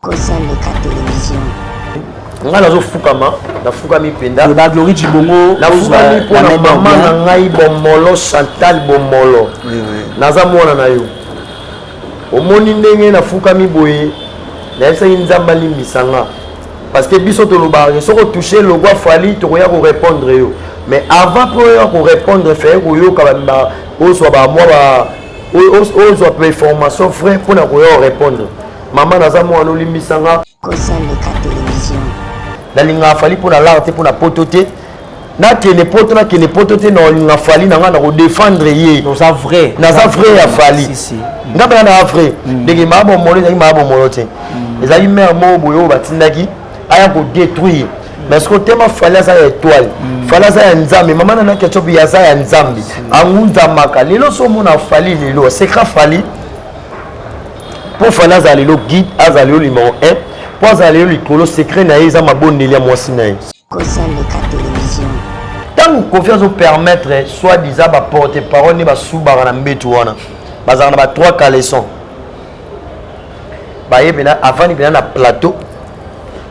kosaleka television ngai nazofukama nafukami mpenza na glorie cibongo nafukami mpo na mama na ngai bomolo chantal bomolo naza mwana na yo omoni ndenge nafukami boye nayebisaki nzambe alimbisa nga parce que biso tolobaka soki otouche logo afali tokoya korépondre yo mais avant mpo oya korépondre feye koyoka ozwa bamwa ozwa pe formation frais mpo na koya korépondre Mama naza mwana olimbisa nga. Kosa leka television. Nalinga fali mpo na lar te mpo na poto te. nakende poto nakende poto te nalinga fali na ngai nakodefendre ye naza vrai naza vrai ya fali nga mpena naa vrai mm. ndenge maa bomolo ezalaki maa bomolo te mm. ezalaki mare moko boye oyo batindaki aya kodétruire mais soki otema fali aza ya étoile mm. fali aza ya nzambe mama nana ketchup ye aza ya nzambe angunzamaka lelo so omona fali lelo secret fali mpo fana azala lelo guide azala lelo limao 1 mpo azala lelo likolo secret na ye eza mabondeli ya mwasi na ye ntango kofi azopermettre soit disa baporte parole nde basubaka na mbetu wana bazalaka na ba trois caleson baye mpena avandi mpena na plateau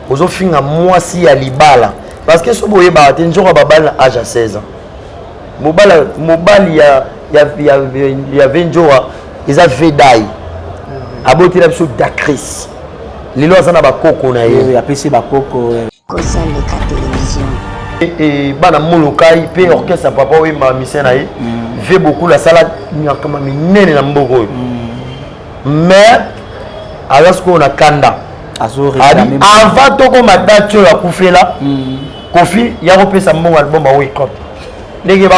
ozofinga mwasi ya libala parce que soki boyebaka te nzoka babali na age ya 16 ans mobali ya, ya, ya, ya, ya venjora eza vedai abotela biso dacris lelo aza na bakoko na ye apesi bakoko kozaleka television bana molokai mpe mm. orchestre ya papa oyo mamise na ye mm. vie bokulu asala nyakama minene na mboka oyo mm. mais aza sikoyo na kanda avant tokoma dati oyo akufela kofi ya kopesa mbongo album aoikote ndenge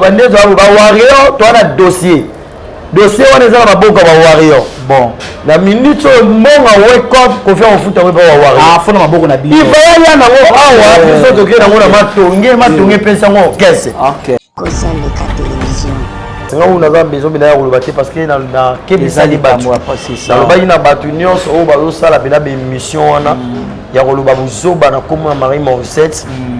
bande bawario toa na dossier dossier wana eza na maboko ya ba warrior bon na minute oyo mbongo wekop kofi akofuta ngo epa ba warriorafona ah, maboko na bino iva yalia nango awa eh. biso tokei nango na matonge matonge epesi hmm. yango kese kosaleka televizio nga oyo naza besoin mpenza ya koloba te parce que nakebisaki bato nalobaki na bato nyonso oyo bazosala mpenza baémission wana hmm. ya koloba buzoba na nkombo ya marie mausette hmm.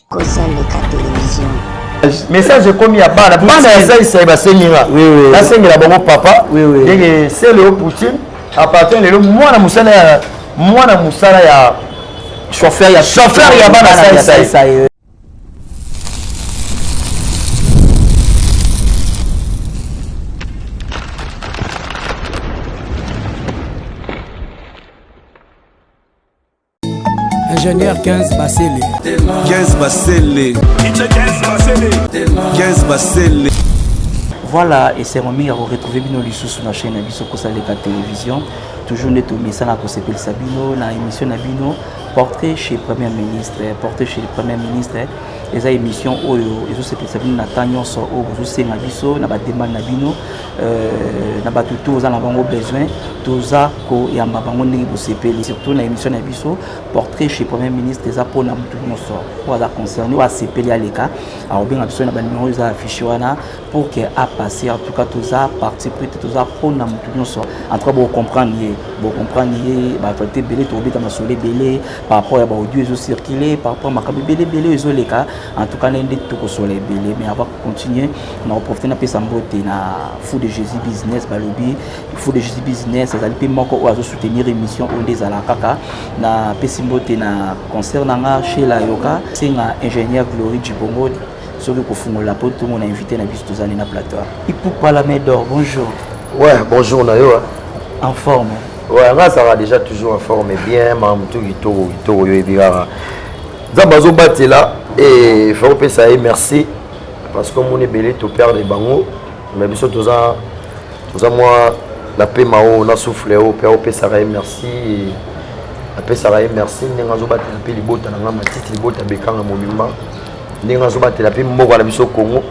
kosa leka television message ekomi ya bana bana ya zaisai basengi nga nasengela bango papa ndenge sele yo poutine apartin lelo mwana mosala ya mwana mosala ya chauffeur ya chauffeur ya bana zaisai ingénieur 15 basele 15 basele 15 basele voilà esengo mingi ya koretrouve bino lisusu na chaîne na biso kosaleka télévision toujours nde tomesana kosepelisa bino na émission na bino portrait chez premier ministre portrait chez le premier ministre eza émission oyo ezosepelisa bino na temps nyonso oyo bozosenga biso na bademande na bino Euh, na bato to oza na bango besoin toza koyamba bango ndenge bosepeli surtout na émission na biso portrait chez premier ministre eza mpona motu nyonso oyo aza concerné oyo asepeli aleka akobenga biso na banimero oyo eza affiche wana pour que apasse en tout cas toza parti pris te toza mpona motu nyonso en tout cas bocomprendre ye bocomprendre ye baactualité ebele tokobeta masolo ebele par rapport ya baaudio ezocircule par rapport makambo ebele ebele oyo ezoleka en tout cas na ye nde tokosola ebele mais avant continuer na koprofite napesa mbote na fou de jésus business balobi fou de jésus business azali mpe moko oyo azosoutenir émission oyo nde ezala kaka napesi mbote na concert na nga shela yoka senga ingénieur glorie dibongo soki kofungola mpo ntongo na invité na biso tozali na plateau ipupa la main d'or bonjour ouais bonjour na yo en forme ouais nga azalaka déjà toujours en forme bien mamutu kitoko kitoko yo ebi kaka nzambe azobatela e fa kopesa ye merci parce que omoni ebele toperde bango me biso toza toza mwa na pema oyo na souffle oyo mpe opesaka ye merci apesaka ye merci ndenge azobatela mpe libota na ngai matiti libota bekanga mobimba ndenge azobatela mpe mboka na biso congo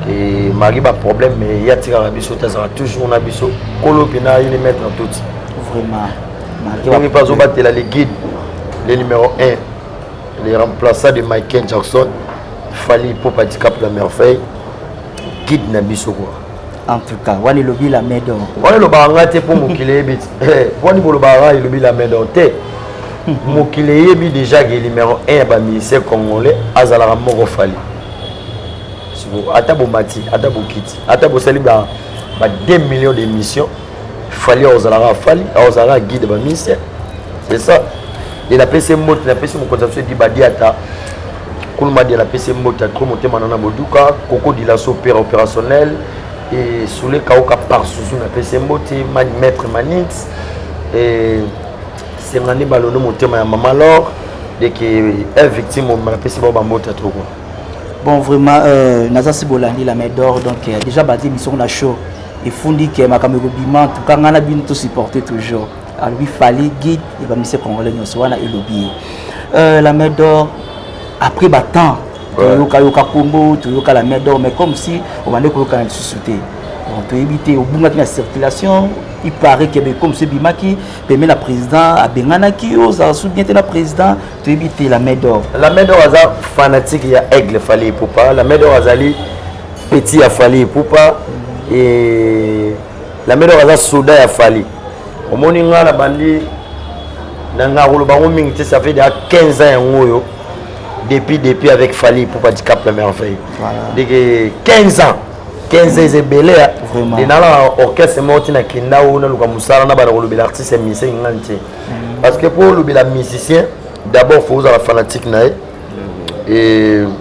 e mari baproblème mais ye atikaka biso te azalaka toujours na biso kolo mpena ye ne maître toti vraiment ndenge mpe azobatela le guide le numéro 1 le remplaçant de michael jackson fali mpo patikape la merveille guide na biso kua en tout cas wani elobi la medor wani elobaka ngai te mpo mokili eyebi eh, wani bolobaka ngai elobi la medor te mokili eyebi déjà ke numéro 1 ya bamusicien congolais azalaka moko fali ata bomati ata bokiti ata bosali ba 2 millions d'émissions fali akozalaka fali akozalaka guide ba ministère c'est ça et napesi mbote napesi mokonzi ya biso edi badiata kulumadi napesi mbote atro motema nana boduka koko dilaso père opérationnel et soule kaoka par susu napesi mbote mani maître manix et sengani balondo motema ya mama lor deke un victime napesi bao bambote atro quoi bon vraiment euh, naza si bolandi la main d'or donc euh, déjà badi misoko na show efundi ke makambo ekobima tuka ngai na bino tosupporte toujours alobi fali guide ya bamise congolais nyonso wana elobi ye euh, la main d'or après batemps toyokayoka kombo toyoka la main d'or mais comme si obande koyokana lisusu te toyebi te obungaki na circulation il paraît que comme ce bimaki pembe na président abenganaki yo ozala su bien te na président toyebi te la main d'or la main d'or aza fanatique ya aigle fali epupa la main d'or azali petit ya fali epupa e lamedor aza soda ya fali omoni ngai na bandi na ngai akoloba yango mingi te ça fait déjà 15 ans yango oyo depuis depuis avec fali epupa dicap la merveille ndeke 15 ans 15 ans ebele nde nalaa orchestre moko ntina kenda o naluka mosala na bana kolobela artiste ya musicien ngani te mm. parce que mpo olobela musicien d'abord fo ozala fanatique na ye mm.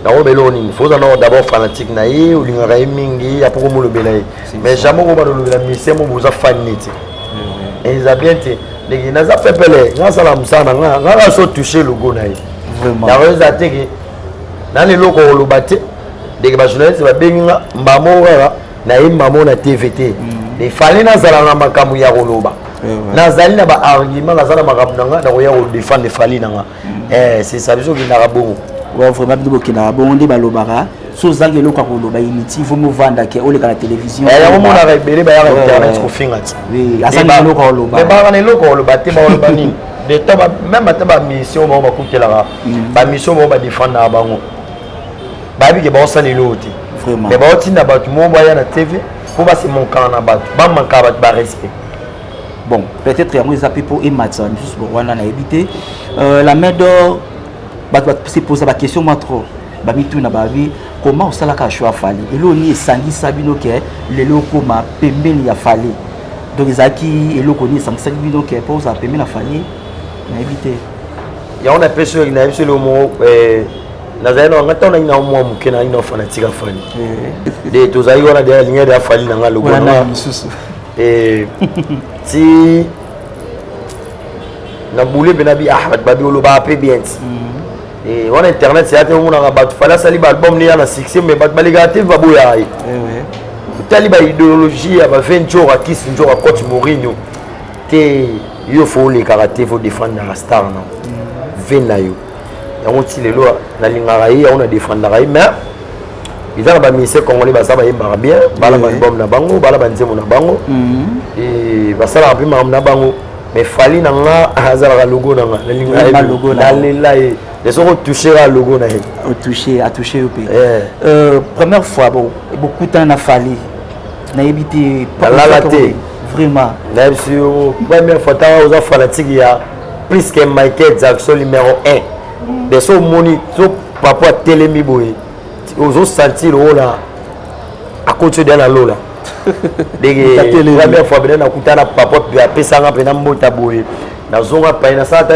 nakoyeba eloko nini foza nao d'abord fanatique na ye olingaka ye mingi apoko molobela ye mais jamais okoba lolobela misie mo boza fan neti mm-hmm. eza bien te ndenge naza pepele nasala mosala na nga nga naso touche logo na ye yango eza te ke nani eloko oloba te ndenge bajournaliste babengi nga mbamo kaka nayemba mo na tv te mm-hmm. efale nazala na makambo ya koloba eh nazali na baargument naza na makambo na nga nakoya kodefendre fali na nga eh c'est ça biso kindaka bongo wa vraiment bino bokendaka bongo nde balobaka so ozangi eloko ya koloba initi ifo movanda ke oleka na télévision eh, yango monaka ebele bayaka oh. internet kofinga ti azangi eh, eloko ya koloba eh, bayaka na eloko ya koloba te bakoloba nini de temps même ata bamission bango bakutelaka mm. bamission bango badefendaka bango bayebi ke baosala eloko te mais baotinda bato moko baya na tv mpo basemonkana na bato bamankaka bato barespect bon peut-être yango eza mpe mpo ematisa misusu wana nayebi te euh, la main d'or bato baseposa baquestion mwa trop bamituna babi comment osalaka choix fali eloko nini esangisa bino ke lelo okoma pembeni ya fali donc ezalaki eloko nini esangisaki bino ke mpo ozala pembeni ya fali nayebi te yango na mpe soki nayebi solo moko eh, nazali na wanga ntango nangi na mwa moke nangi na fanatika fali eh. de tozalaki wana de alingai de afali na ngai lokola Eh, ti na boule mpe na bi ah bato babi olobaka mpe bien ti mm. eh, wana internet ya te omonaka bato fali asali baalbum ne ya na succès mais bato balekaka te baboyaka ye eh otali baideologie ya bave njora kis njora coach morino te yo fo olekaka te fo defendre na star na mm. ve na yo yango ti lelo nalingaka ye yango na defendaka ye mais eza na baministère congolais baza bayembaka bien bala baalbum na bango bala banzembo na bango mhm. basalaka mpe makambo na bango mais fali na nga azalaka logo na nga nalingalela ye mais soki otouchera logo na ye otouche atouche yo mpe eh. euh, première fois bokutana na fali nayebi te nalala te vraiment nayebisi yo première fois ntango oza fanatique ya plus que Michael Jackson numéro 1 de so moni so papa atelemi boye ozo sentir ola akoti de na lola ndenge première fois bena nakuta na papa apesanga mpe na mbota boye nazonga pai nasala ta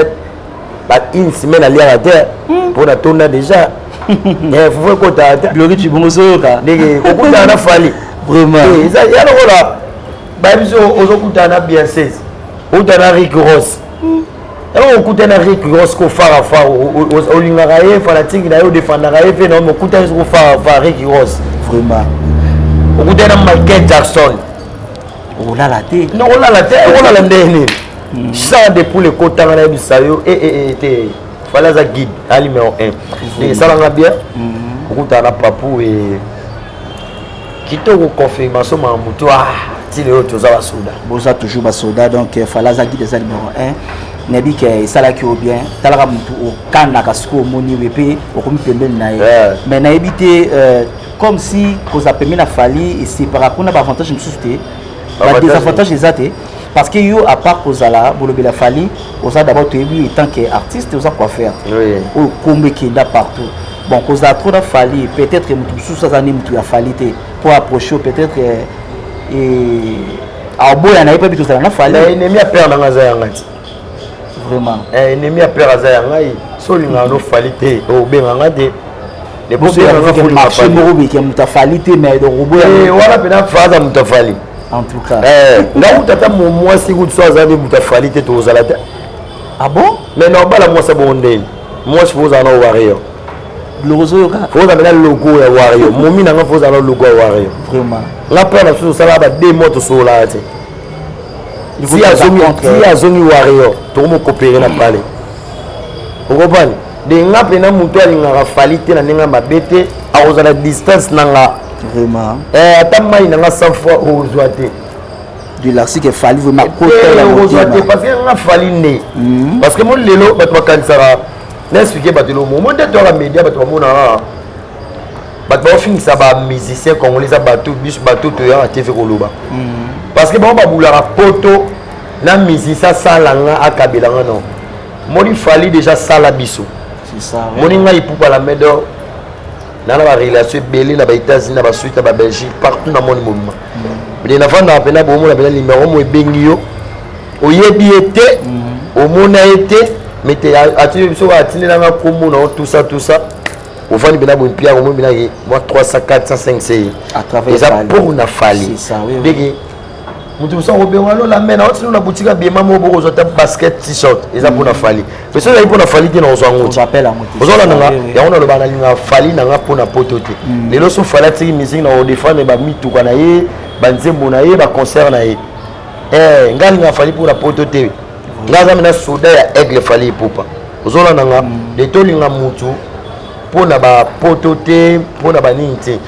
ba une semaine aliaka te mpo hmm. natonda déjà eh, fufu ekotaka te gloki cibongo soyoka ndenge kokutana na fali vraiment eh, eza ya lokola bayebi so ozokutana na bienses outa na rick ross yango okutana rick ross ko fara fara olingaka ye fanatike na ye odefandaka ye mpe na okutani soko fara fara rick ross vraiment okutana michael jackson olala te olala te olala ndenge nini hmm. champ de poule ekotanga na yebisa yo eh, eh, eh, te fale aza guide alimeo 1 esalanga bien hmm. okutana na papu e kitoko confirmation ma mutu ah ti lelo toza basoda boza toujours basoda donc euh, fala aza guide eza numero 1 nayebi ke euh, esalaki yo bien talaka motu okandaka sikoyo omoni we mpe okomi pembeni na ye mais nayebi te euh, comme si kozala pembeni na fali esepaka kuna baavantage mosusu te badesavantage eza te parce que yo à part kozala bolobela fali oza d'abord toyebi etant que artiste oza coiffeur oyo kombo ekenda partout bon kozala trop na fali peut-être moto mosusu aza nde moto ya fali te mpo approche peut-être eh, eh, aoboya na ye mpe bitu ozala na fali enemi ya père nanga aza ya ngai ti vraiment eh, enemi ya père aza ya ngai so olingaka no fali te obenga ngai te marché moko beke moto afali te mais donc oboya wana mpena faza moto afali en tout cas eh nga uta ta mon moi si gout soit azabe buta fali te to zala te ah bon mais non bala moi ça bon ndenge moi je vous en au warrior logo zo yoka faut ça bela logo ya warrior momi na nga faut ça logo ya warrior vraiment la peur na tout ça là ba deux mots to so là te si azongi si azongi warrior to mo coopérer na pale okompani de nga mpena moto alingaka fali te na ndenge ya mabe te akozala distance na nga vraiment eh, ata mai na nga 100 fois ozwa te de l'arsique fali vraimentkozwa te parce que nga fali nde mhm. parce que mo lelo bato bakanisaka na explike bato elo momo nde toyaka média bato bamonaka bato baofingisa bamusicien congolais eza bato biso bato toyaka tv koloba mhm. parce que bango babulaka poto na musicien asalanga akabelanga nao moni fali deja sala biso moni ngai ipupa la medor na na barelation ebele na baétats-unis na basuite na babelgique partout na moni mobima mede nafandaka mpena bomona mpena nimero mo ebengi yo oyebi ye te mhm. omona ye te mete atindi biso atindelanga nkombo na yo tusa tusa ofandi mpena boye mpiaka omoni mpena ye mwa 300 400 5 eza mpo na fali ndenge moto mosusu akobenga no lame na otino na boutique ya biema moko bokozwa ta basket t-shirt eza mpona fali mais soki ezali mpona fali te nakozwa yango te ozolanda nga yango naloba nalinga fali na nga mpona poto te mm. lelo so fali atiki musike na kodefendre bamituka na ye banzembo na ye baconcert na ye eh, nga alinga fali mpona poto te nga aza mena soda ya aigle fali epupa ozolanda nga mm. de tolinga motu mpona bapoto te mpona banini te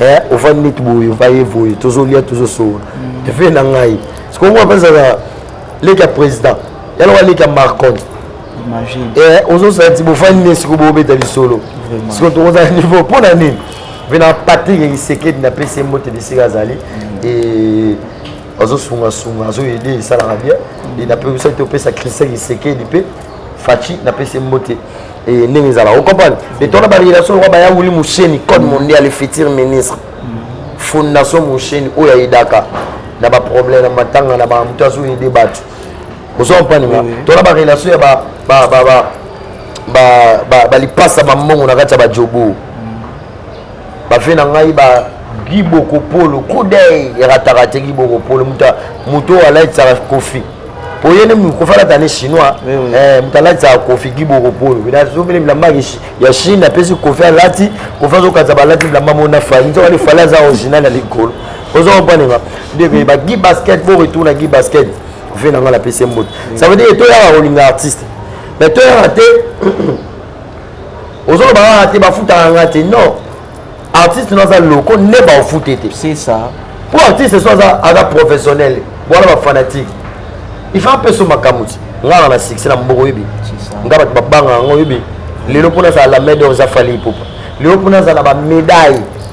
eh, ovandi neti boye ovaye voye tozolia tozosowa mm. efe na ngai sikoyo ngo apesaka leki ya président yaloka leki ya marcon eh, ozosala ti bofandi ne sikoyo bobeta lisolo sikoyo tokozala niveau mpo na nini mpe na patrik ekisekedi napesi ye mbote bisika azali mm. azosungasunga azoyede esalaka bien mm. napesaki te opesa christian kisekedi mpe faci napesi ye mbote Et ndenge ezala, vous comprenez Et on a ba relation kwa baya wuli musheni code mm. mondial le futur ministre. Mm. Fondation musheni oyo ya idaka na ba problème na matanga na ba mutu azo aider batu. Vous comprenez nga? To na ba relation ya ba ba ba ba ba ba lipasa ba mbongo na kati ya ba jobo. bafe na ngai ba giboko polo kudei erataka te giboko polo moto oyo alatisaka kofi po ye nde kofi alata ne chinois eh, moto alatisaka kofi giboko polo azobele bilamba ya chine apesi kofi alati kofi azokatisa balati bilamba moko na fali nzoka nde fali aza original ya likolo ozo kompanenga ndeko yeba gi basket bo retour na gi basket ve na ngai napesi mbote ça veut dire toyaka kolinga artiste mais toyaka te ozoloba kaka te bafutaka nga te non artiste no aza loko nde baofute te c'est ça po artiste so aza aza professionnel wana bafanatique il faut apeso makambo ti ngaka na succès na moboko oyebi nga bato babanga yango oyebi lelo mpo nazala la main d'or eza fali ipupa lelo mpo nazala bamedaille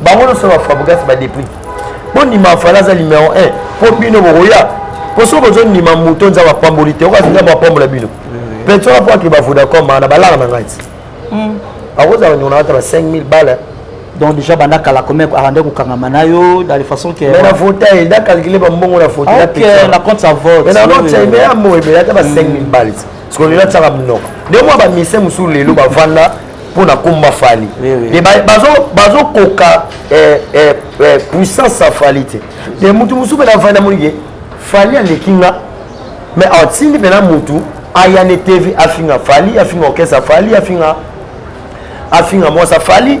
bango nyonso ba fabrigas ba deprit bondima fala aza numero 1 mpo bino bokoya mpo soki bozondima moto nzambe apamboli te okasi nzambe apambola bino pension apo akeba vodacom na balaka na ngai ti hmm. akozala bandeko na ata ba 5000 bala donc déjà banda kala comme arande kokangama na yo dans les façons que mais na vote ye nda calculer bambongo na vote na pesa na compte sa vote mais na compte sa mais amoye mais ata ba 5000 balles parce que lela tsaka mnoko nde mwa ba mise mosusu lelo bavanda mpo na komba fali me bazokoka eh, eh, eh, puissance ya fali te te motu mosusu mpe na fali namoni ke fali aleki nga mais atindi mpena motu aya ne tv afinga fali afinga orchestre fali afinga afinga mwasa fali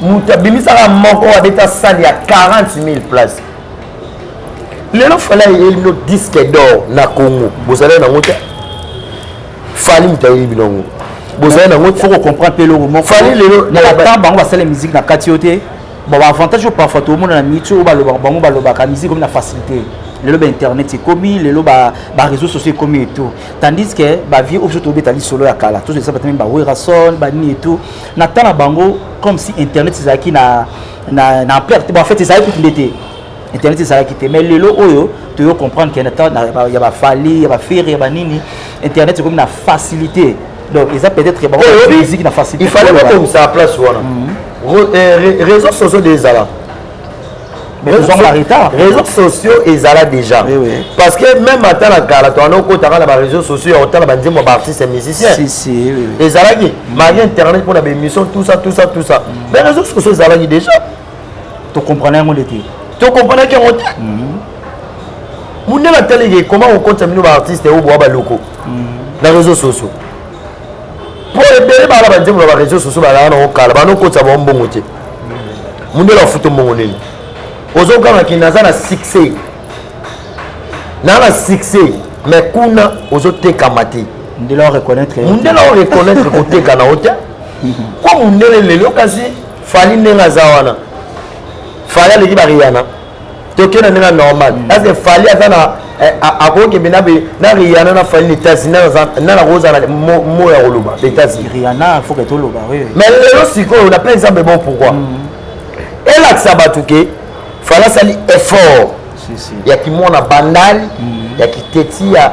moto abimisaka moko abeta sale ya 40 000 place lelo fali ayeli bino disque d'or na congo bozali nango te fali moto ayeli bino yango bozali nango foko comprendre mpe eloko moko fali lelo na batemp bango basala musike na kati yo te bon baavantage oyo parfois toomona na mitu oyo balobaka bango balobaka musike komi na facilité lelo ba internet ekomi lelo ba ba réseaux sociaux ekomi et tout tandis que ba vieux oyo tobeta lisolo ya kala tozolisa bato meme ba werrason banini et tout na temps na bango comme si internet ezalaki na na na ampleur te bon en fait ezalaki kutu nde te internet ezalaki te mais lelo oyo toyo comprendre que na temps ya bafali ya bafere ya banini internet ekomi na facilité donc eza peut-être bango musique na facilité il fallait bakomisa place wana réseau sociaux nde ezala réseaux sociaux ezala déjà oui, oui. parce que même ata na kala towana okotaka na baréseaux sociaux ya kotala banzembo ya baartiste musicien si, si, oui, oui. ezalaki mm. marie internet mpona baémission tout ça tout ça tout ça mm. mais réseaux sociaux ezalaki déjà tokomprana yango nde te tokompanaki yango te mundele ataliki koma kokotisa bino baartiste oyo boa baloko mm. na réseaux sociaux po ebele bala banzembo na bareseau soso balaa nango kala bana okotisa bango mbongo te mundele afuto mbongo nini ozoganga ke naza na succès naa na succès mais kuna ozotekama te mundele oreconnaitre koteka na yo te po mundele lelo kasi fali ndenge aza wana fali aleki bariyana toke na ndenge normal mm. parce que fali aza na eh, akokende na be na riana na fali na états-unis na na kozala mo ya koloba na états-unis riana faut que toloba oui mais lelo sikoyo na plein exemple bon pourquoi mm. elakisa bato ke fali asali effort ya kimona bandali mm. ya kiteti ya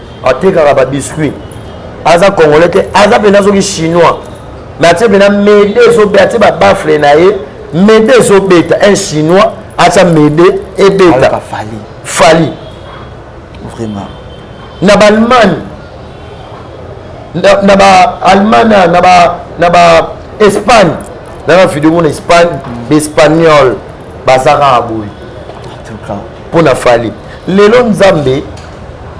atekaka ba biscuit aza congolais te aza mpena soki chinois me atie mpena mede ezobe atie babafle na ye mede ezobeta un chinois atia mede ebeta fali vraiment na ballemagne na baallemane na baespagne nana video mona espagne baespagnol bazaka aboye mpo na fali lelo nzambe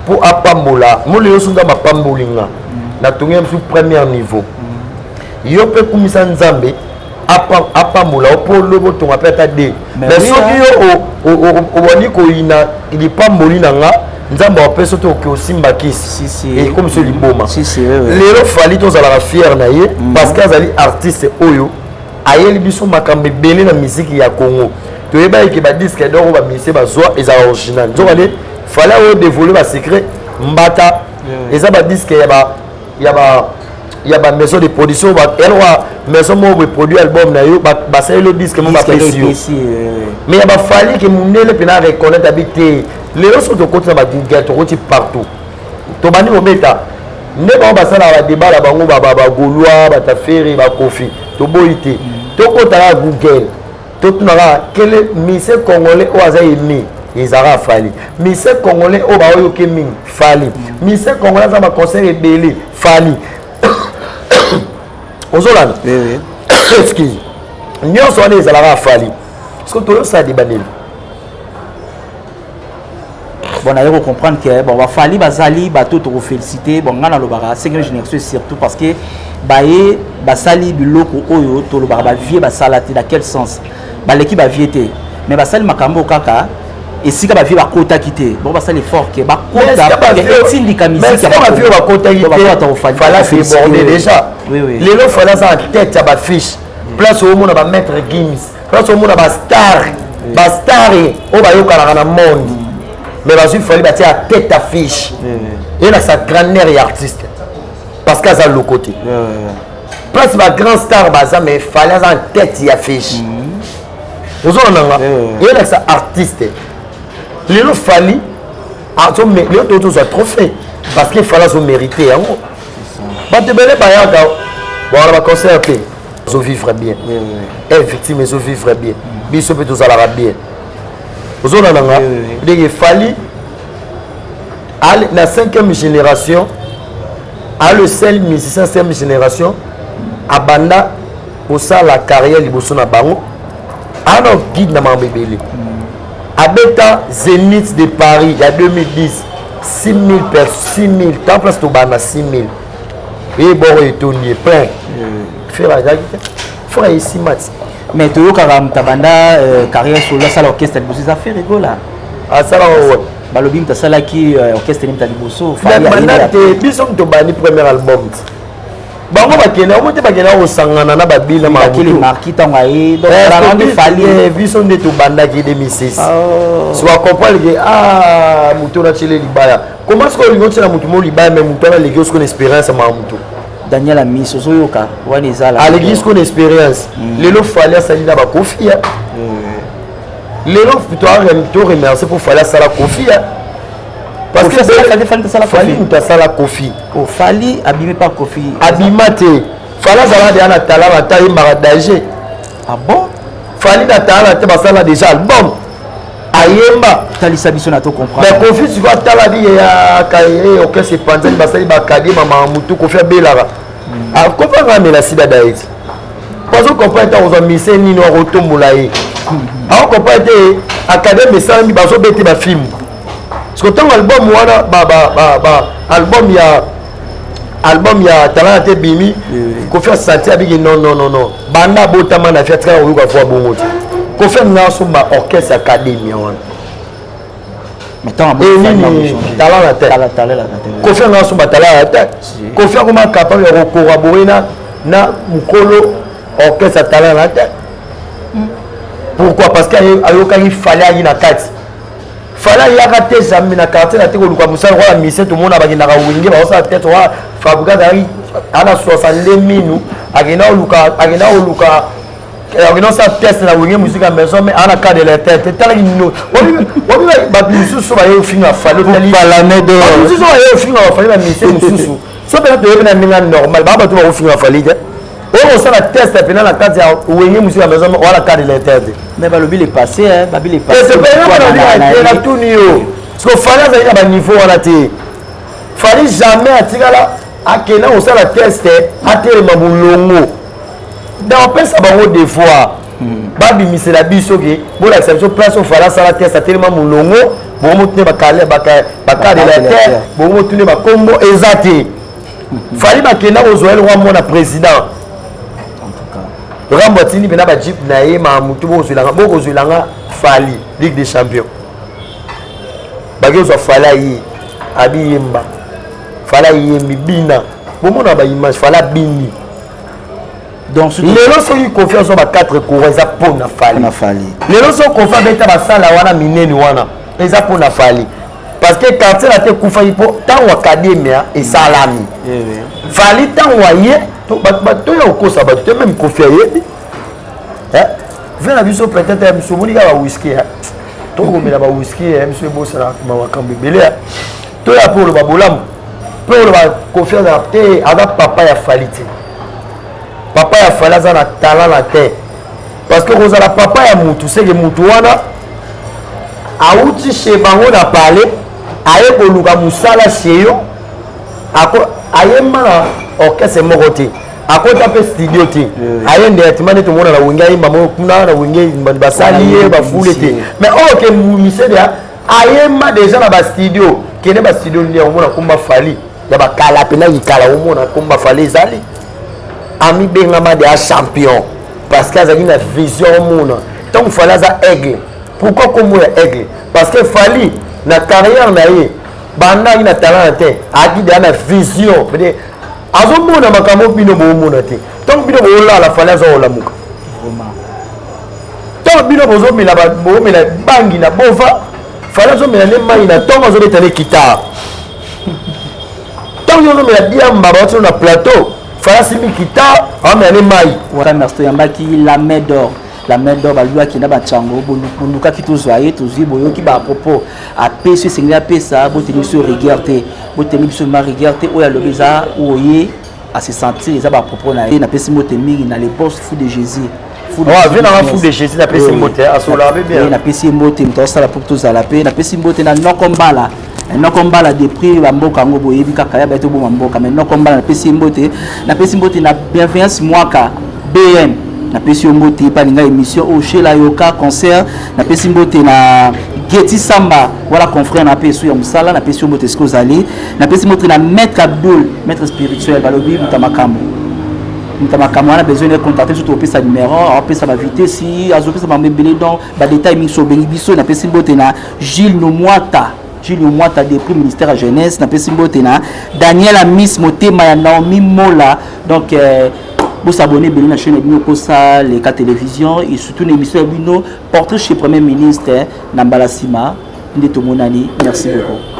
mpo apambola moli nyonso nzambe apamboli nga natongi biso premier niveau yo mpe kumisa nzambe apambola yo mpo lobo tonga mpe ata de mais soki yo obandi koyina lipamboli na nga nzambe apesa te oke osimba kisi ekomi so liboma lelo fali tozalaka fiere na ye mm. parce que azali artiste oyo ayeli biso makambo ebele na miziki ya congo toyebaki ke badiske doko bamise bazwa ezala original nzoka nde fale oyo devoile basecret mbata eza badiske ya ba ya ba maison de production elwa maison moko boye produit album na yo basaleli yo diske moko bapesi yo mais ya bafali ke mondele mpena reconnaitre abi te lelo soki tokoti na bagugal tokoti partout tobandi kobeta nde bango basalaka badeba na bango bagaulois batafere bakofi toboyi te tokota kaka google totuna kaka kele mise congolais oyo aza emi ezalaka fali mise congolais oyo baoyoki mingi fali mise congolais aza baconseil ebele fali ozolanda excuse nyonso wana ezalaka fali soki toyosala deba nini bon naye ko comprendre que bon bafali bazali bato tokofélicité bon ngai nalobaka cinquième génération surtout parce que baye basali biloko oyo tolobaka bavie basala te na quel sens baleki bavie te mais basali makambo kaka esika bavie bakotaki te bon basali effort ke bakotaetindika misikabato bakotaki te lelo fala aza na tête ya bafiche place omona bamaître gims place omona bastar bastar oyo bayokanaka na monde mais bazwi fali batia ya tete affiche elakisa grandeur ya artiste parce que aza loko te place bagrand star baza mais fali aza na tete ya affiche mm-hmm. ozolanda nga elakisa artiste lelo fali lelo toyo tozwa trophée parce que fali azomérite yango bato ebele bayaka bawana baconcert te ezo vivre bien e victime ezo vivre bien biso mpe tozalaka bien ozona na nga ndenge efali na cinquième génération a le seul musicien cinquième génération abanda kosala carrière liboso na bango ana guide na makambo ebele abeta zenith de paris ya 2010 6000 personnes 6000 temps place tobanda 6000 ye boko etondi ye plein fere azalaki te fora esimba ti mais toyokaka moto abanda euh, carrière solo asala orchestre liboso eza fere gola asala oyo balobi moto asalaki euh, orchestre moto ya liboso banda te biso moto obandi premier album ti bango bakenda yango te bakenda kosangana na babina mamarki ntango aye eh, biso nde tobandaki 2006 so akomprendre ke ah moto na chile libaya Comment sikoyo olingi otyela motu mo libaya me motu wana aleki yo sikoyo na expérience ya mawa motu daniel amisi ozoyoka wana ezala aleki sikoyo na expérience mm. lelo fali asali na bakofi ya mm. lelo to remercie mpo fali asala kofi ya parce que fali motu asala kofi oh, fali abimi pa kofi abima te fali azalaka deya na talana ata ayembaka danger ah bon fali na talana te basala déjà album ayemba talisa biso na to comprendre mais kofi siko atala biye ya kaye orchestre epanzani basali bakadie mama mutu kofi abelaka hmm. ah, kofi anga amela sida daeti pazo comprendre ntango ozwa mise nini wakotombola ye hmm. ako comprendre te akademi esalami bazobete bafilme siko ntango album wana album ya album ya talana te bimi kofi asanti abiki non non non non banda abotama na fi atikala koyoka fo abongo te kofi amina asomba orchestre academia wana enini talana te kofi anga asomba talana te kofi akoma capable ya kokorabore na na mokolo orchestre talana te pourquoi parce que ayokaki fale ayi na kati fala yaka te zambi na quartier na te koluka mosala lokola mise tomona bakendaka wenge baosala tete wa fabrika azalaki ana 62 minu akenda koluka akenda koluka akenda kosala teste na wenge musika ya maison mais ana cas de la tete etalaki nino wabi bato mosusu baye ofinga fali otalimosusu baye ofinga bafali na mise mosusu so mpena toyebi na ndenge normal baa bato bakofinga fali te oyo kosala test ya pena na kati ya wenge mosusu ya maison wana kadi na etere te mais balobi le passé babi le passénatuni yo siko fali azali na baniveau wana te fali jamais atikala akenda kosala test atelema molongo na opesa bango devoir hmm. babimisela biso ke bolakisa biso place oyo fali asala test atelema molongo bongo motune bakadela te bongo motune bakombo eza te fali bakenda kozwa ye lokwa mwana président rambo atindi mpena bajipe na ye ma motu bokozwelanga bokozwelanga fali ligue des champion baki kozwa fali aye abiyemba fali ayembi bina bomona baimage fali abini lelo soki kofi azwa ba 4 coura eza mpo na fali lelo soki kofi abeta basala wana minene wana eza mpo na fali parce que quartier latin ekufaki mpo ntango akademia esalami fali eh ntango aye bato ya kokosa bato te meme kofi ayebi eh? vie na biso peut-être ya biso omoni kaka bawiski eh? tokomela bawiski ya biso ebosana makambo ebele toya mpo oloba bolamu mpo oloba kofi azala te aza papa ya fali te papa ya fali aza na talent na te parce que kozala papa ya mutu seke mutu wana awuti chez bango na palais aye koluka mosala chez yo ayemba na orchestre moko te akota mpe studio te aye nde atima nde tomona na wenge ayemba moko kuna na wenge basali ye bafule te mais oyo ke misede ayemba deja na bastudio kende bastudio nde omona komba fali ya bakala mpe na likala omona komba fali ezali amibengama deja champion parce que azalaki na vision omona ntango fali aza aigle pourquoi nkombo ya aigle parce que fali na carrière na ye banda ayaki na talent na te ayaki deja na vision pede azomona makambo bino boomona te ntango bino boolala fali aza olamuka ntango bino bozomela boomela bangi na bova fali azomela nde mai na ntongo azobeta ne kitare ntango yo ozomela diamba bawati yo na plateau falasi mikita awamela ne mai merci toyambaki la main d'or la main d'or balwaki na bacango bolukaki tozwa ye tozwi boyoki bapropos apesi esengeli apesa boteli biso rigueur te boteli biso ma rigueur te oyo alobi eza oye à se sentir eza bapropos na ye napesi mbote mingi na le poste fou de jésus vie nanga fou de jésus napesi mbote asololaka mpe bien napesi ye mbote moto asala mpo tozala mpe napesi mbote na noko mbala eh, noko mbala depris bamboka yango boyebi kaka ya bato oboma mboka mai noko mbala napesi ye mbote napesi mbote na bienveillance mwaka bm napesi yo mbote epa linga émission oyo oh, shela yoka concert napesi mbote na geti samba wala confrère na mpe esu ya mosala napesi yo mbote esika ozali napesi mbote na maître abdul maître spirituel balobi buta makambo moto makambo wana besoin na contacte biso topesa numero apesa bavitesi azopesa bango ebele donc badetail mingi so obengi biso napesi mbote na gilles nomwata gilles nomwata depuis ministère ya jeunesse napesi mbote na daniel amis motema ya naomi mola donc euh, bosabone ebele na chaîne ya bino kosa leka télévision et surtout na émission ya bino portrait chez premier ministre na mbala nsima nde tomonani merci beaucoup